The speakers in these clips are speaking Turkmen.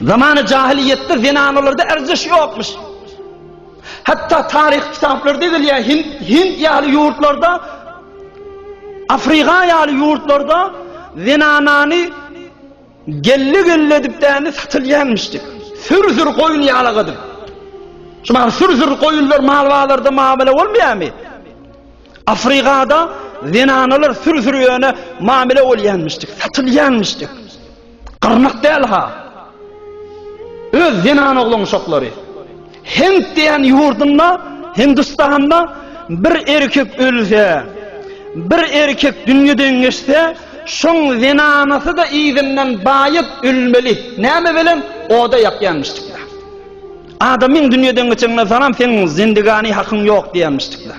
Zamany jahylyýetde zenanalarda erjeş ýokmuş. Hatda taryh kitaplarda gelýär, Hind, Hind ýaly ýurtlarda, Afrika ýaly ýurtlarda zenanany gelli gelli edip däni satylýanmyşdy. Sür-sür goýun ýalagydy. Şu bar sür-sür goýunlar mal bazarda mabele bolmaýarmy? Afrikada zenanalar sür-sür ýöne mamile bolýanmyşdy, satylýanmyşdy. Gyrnak däl-ha. Öz zenan oglanuşaklary. Hint diýen ýurdunda, Hindistanda bir erkek ölse, bir erkek dünýeden geçse, şoň zenanasy-da yzyndan baýat ölmeli. Näme bilen? Oda ýakýanmyşdyklar. Adamyň dünýeden geçenine salam seň zindigani hakyň ýok diýenmişdikler.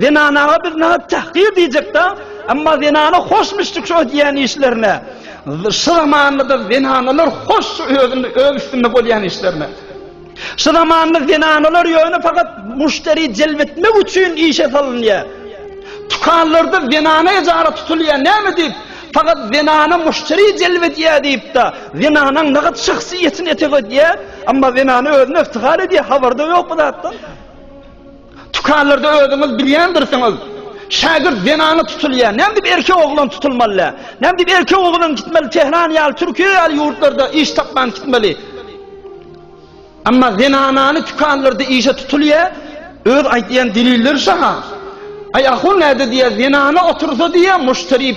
Zenanaga biz naga tahgir diýjekda, emma zenana hoş müşdik şu edýän işlerine. Şu zamanda zenanalar hoş şu özünde öz üstünde bolýan işlerine. Şu zamanda zenanalar ýöne fakat müşderi celb etmek üçin işe salynýar. Tukanlarda zenana ejara tutulýar näme diýip? Fakat zenana müşderi celb edýär diýipdi. Zenana naga şahsyýetini etegedýär, emma zenana özüni iftihar edýär, habarda ýok bu zatdan. Tükanlarda özüňiz bilýändirsiňiz, şägirt zenana tutulýar. Näme diýip erkek oglan tutulmaly? Näme diýip erkek oglan gitmeli Tehran ýaly, Türkiýe ýaly ýurtlarda iş tapman gitmeli? Emma zenanany tükanlarda işe tutulýar, öz aýdýan delilleri şaha. Aý ahun näde diýýär, zenana otursa diýýär, muşteri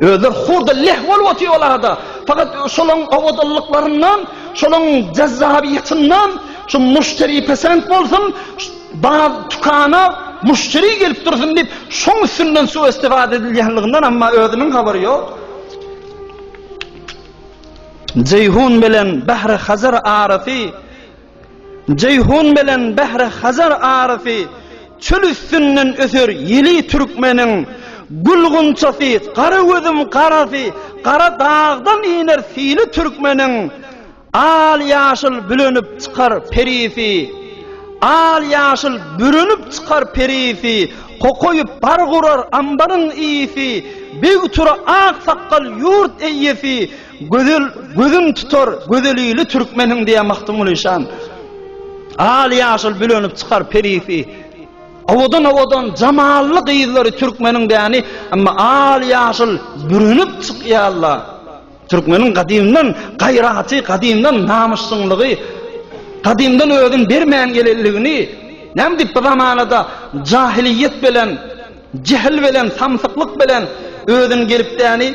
Özler hurda leh bolup otyrlar-da, fakat şolaryň owadanlyklaryndan, şolaryň jazzabyýetyndan, şu muşderi pesent bolsun, bar dükana muşderi gelip dursun diýip, şoň üstünden su-istifade edilýänliginden amma özüniň habary ýok. Jeýhun bilen Bahri-Hazar arasy Jeýhun bilen Bähre Hazar arasy çöl üstünden öser ýyly türkmeniň gül gunçasy gara gözüm garasy gara dagdan iner syly türkmeniň al ýaşyl bülenip çykar perisi al ýaşyl bürenip çykar perisi kokoýup bar gurar ambaryň iyisi beg tura ak sakgal ýurt eýesi Gözel gözüm tutar gözelili türkmeniň diýen Magtymguly şan. Al ýaşyl bülenip çykar perisi. Awadan awadan jamally gyzlary türkmeniň däni, emma al ýaşyl bürenip çykýarlar. Türkmeniň gadymdan gaýraty, gadymdan namysdyňlygy, gadymdan özün bermän gelenligini näme diýip bu zamanada jahiliýet bilen, jehl bilen, samsyklyk bilen özün gelip däni